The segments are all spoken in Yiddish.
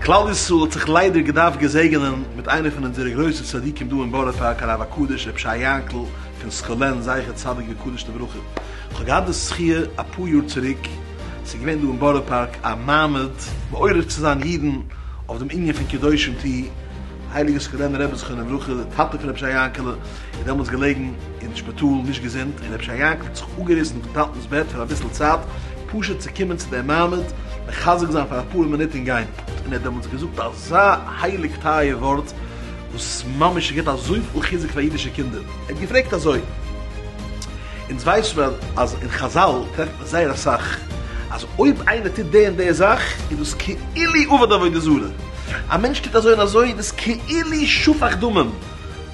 כלל ישראל האט זיך ליידער געדארפט געזעגענען מיט איינער פון אונזערע גרויסע צדיקים דא אין בארא פארק הרב הקדוש רבי שי יענקל פון סקולען זכר צדיק וקדוש לברכה איך האב געהאט די זכי' אפאר יאר צוריק ס'איז געווען דא אין בארא פארק א מעמד מעורר צו זיין אידן אויף דעם ענין פון קדושים ט הייליגער סקולענער רבי זכרונו לברכה, די טאטע פון רבי שייע יענקעלע, איז דעמאלטס געלעגן אין שפיטאל נישט געזונט, און רבי שייע יענקעלע האט זיך אפגעריסן פון טאטנ'ס בעט פאר אביסל צייט, פשוט צו קומען צו דעם מעמד, מחזק זיין פאר אפאר מינוט און גיין. און ער האט דעמאלטס געזאגט אזא הייליג טייער ווארט, וואס ממש געבט אזויפיל חיזוק פאר אידישע קינדער, ער האט געפרעגט אזוי, אונז ווייסט מיר אז אין חזל טרעפט מען זייער אסאך, אז אויב איינער טוט די און די זאך, איז דאס כאילו עובד עבודה זרה, א מענטש טוט אזוי און אזוי, דאס כאילו שפך דמים.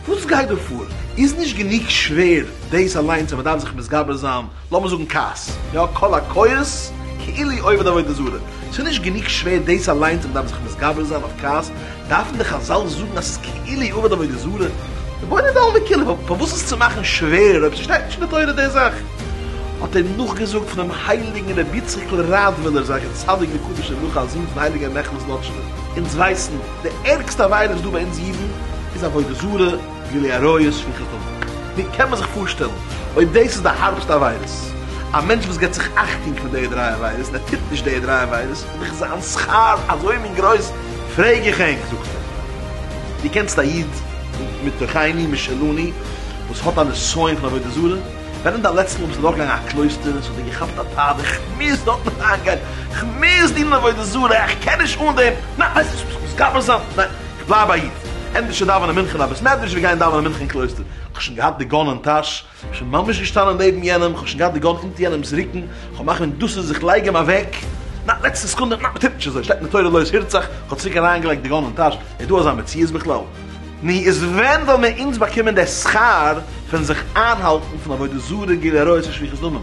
וואס גייט דא פאר? איז נישט גענוג שווער דאס אליינס אז מ'דארף זיך מתגבר זיין, לאמיר זאגן כעס, יא, קול הקורס, כאילו עובד עבודה זרה. איז נישט גענוג שווער דאס אליינס אז מ'דארף זיך מתגבר זיין אויף כעס, דארפן די חזל זאגן אז ס'איז כאילו עובד עבודה זרה? רבונו דעלמא דכולי, פארוואס עס צו מאכן שווערער אויב ס'שטייט נישט אין די תורה די זאך? האט ער נאכגעזאגט פונעם הייליגן רביציקל ראדווילער זצ ל. צדיק וקדוש ר' מיכאל זון פון הייליגער נחלת נאטשוב, אונז ווייסן, די ערגסטע עבירה וואס דא ביי אונז אידן איז עבודה זרה, גילוי עריות, שפיכת דמים. ווי קען מען זיך פארשטעלן אויב דאס איז די הארבסטע עבירות? א מענטש וואס גיבט זיך אכטונג פון די דריי עבירות און ער טוט נישט די דריי עבירות איז דאך זיין שכר אזוי מין גרויס, פרעג איך ענק, זאגט ער, דו קענסט א איד מתוכיני משלני וואס האט א נסיון פון עבודה זרה? ווען איז די לעצטע מאל ביסטו דורכגעגאנגען א קלויסטער און ס'האט דיר געכאפט א פחד, איך מוז דארט נישט אריינגיין, איך מוז דינען עבודה זרה, איך קען נישט אן דעם, ניין, ווייסט וואס, איך מוז גבר זיין, ניין, איך בלייב א איד, ענדערשער דאווענען מנחה אין א בית מדרש ווי גיין דאווענען מנחה אין קלויסטער, איך האב שוין געהאט די גאן אין טאש, איך האב שוין ממש געשטאנען נעבן יענעם, איך האב שוין געהאט די גאן אונטער יענעמ'ס רוקן, איך האב מחליט דאס איז איך לייג אים אוועק, ניין, לעצטע סעקונדע, ניין, מ'טוט נישט אזוי, שטעלט מען תורה לויז הירצאך, איך האב צוריק אריינגעלייגט די גאן אין טאש, איז דא אזא מציאות בכלל? נו, איז ווען וועלן מיר אונז באקומען דער שכר פון זיך איינהאלטן פון עבודה זרה גילוי עריות און שפיכות דמים?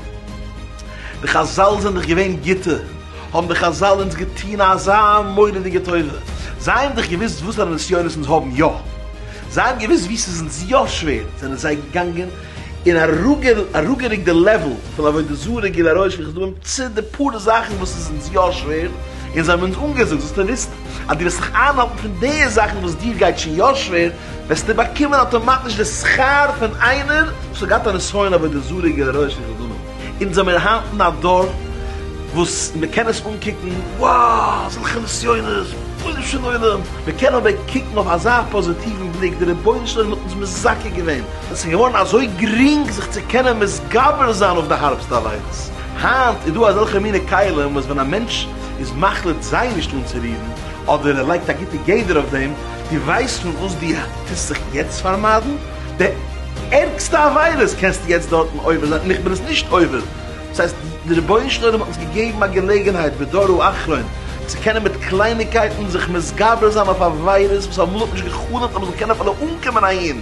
די חזל זענען דאך געווען גוטע, האבן די חזל אונז געטון אזא מורא'דיגע טובה, זיי האבן דאך געוואוסט וואסארא נסיונות אונז האבן יא, זיי האבן געוואוסט וואו ס'איז אונז יא שווער, זענען זיי געגאנגען און אראפגערוקט די לעוועל פון עבודה זרה גילאראש און כדומה צו די פאר זאכן וואס איז אונז יא שווער, און זיי האבן אונז אנגעזאגט זאלסטו וויסן אז דו וועסט זיך איינהאלטן פון די זאכן וואס דיר גייט שוין יא שווער, וועסטו באקומען אטאמאטיש די שכר פון איינער וואס האט געהאט א נסיון אין עבודה זרה גילאראש און כדומה, אונז זעמיר היינט אין א דור וואס מען קען עס אנקוקן, וואו אזעלכע נסיונות, רבונו של עולם, מען קען אבער קוקן אויף אזא פאזיטיוון בליק, דער רבונו של עולם האט אונז מזכה געווען עס איז געווארן אזוי גרינג זיך צו קענען מתגבר זיין אויף די הארבסטע אליינס. היינט איז דא אזעלכע מינע כלים וואס ווען א מענטש איז מחליט זיי נישט אנצורירן, אדער ער לייגט א גוטע גדר אויף דעם, דו ווייסט פון וואס דו טוסט זיך יעצט פארמיידן? די ערגסטע עבירות קענסטו יעצט דארטן עובר זיין און איך בין עס נישט עובר. דאס הייסט, דער רבונו של עולם האט אונז געגעבן א געלעגנהייט בדורו אחרון צו קענען מיט קלייניגקייטן זיך מתגבר זיין אויף עבירות וואס אמאל האט נישט געחלומט אז מען זאל קענען אפילו אנקומען אהין.